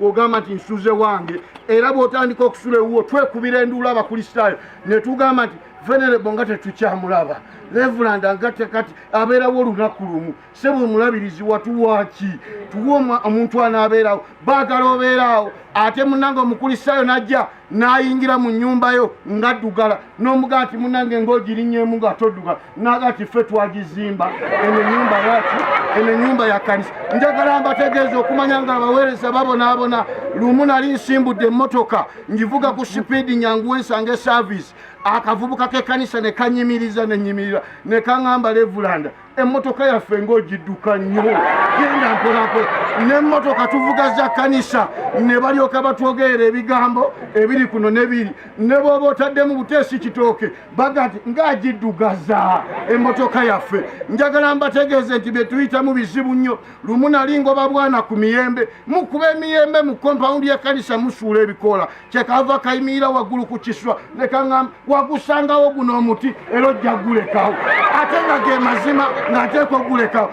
ogamba nti nsuze wange era bw'otandika okusula ewuwo twekubira enduula abakristaayo ne tugamba nti venerebo nga tetukyamulaba revulanda nga tekati abeerawo olunaku lumu sebo omulabirizi watuwaaki tuwa omuntu anaabeerawo baagala obeeraawo ate munange omukristaayo najja n'ayingira mu nnyumba yo nga ddugala n'omuga nti munange ng'ogirinyemu nga toddugala naga nti ffe twagizimba eno ennyumba yaki eno ennyumba ya kanisa njagala mbategeeza okumanya nga abaweereza babonaabona lumu nali nsimbudde emmotoka ngivuga ku sipiidi nyangu wensanga esaavisi akavubuka k'ekkanisa ne kanyimiriza ne nyimirira ne kaŋamba levulanda emmotoka yaffe ng'ogidduka nnyo genda mpolampola n'emmotoka tuvuga za kanisa ne balyoka batwogerera ebigambo ebiri kuno nebiri ne bwoba otaddemu buteesi kitooke bagati ng'agiddugaza emmotoka yaffe njagala mbategeeze nti bye tuyitamu bizibu nnyo lumu nali ngoba bwana ku miyembe mukuba emiyembe mu kompawundi ya kanisa musuula ebikoola kyekava kayimirira waggulu ku kiswa nekaŋamba wagusangawo guno omuti era ojja gulekawo ate nga ge mazima ng'ateeka ogulekawo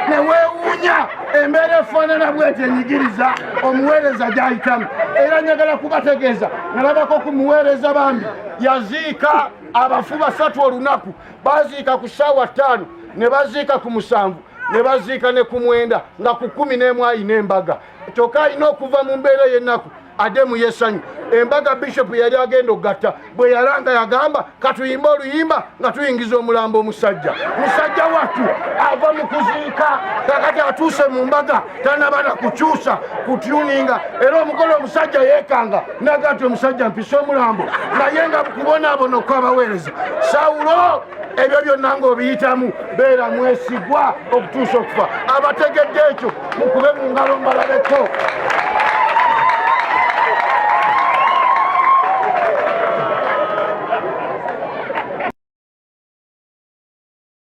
ne weewuunya embeera efaanana bweti enyigiriza omuweereza gy'ayitamu era njagala kubategeeza nalabako ku muweereza bambi yaziika abafu basatu olunaku baziika ku ssaawa ttaano ne baziika ku musanvu ne baziika ne ku mwenda nga ku kkumi n'emu ayina embaga kyoka alina okuva mu mbeera ey'ennaku ade mu yesanyu embaga bishopu yali agenda okugatta bwe yalanga yagamba katuyimba oluyimba nga tuyingiza omulambo omusajja musajja wattu ava mu kuziika kakati atuuse mu mbaga tanabana kukyusa kutyuninga era omukolo omusajja yekanga naga ti omusajja mpisa omulambo naye nga kubonaabona okwabaweereza sawulo ebyo byonna ng'obiyitamu beera mwesigwa okutuusa okufa abategedde ekyo mukube mu ngalo mbalabeko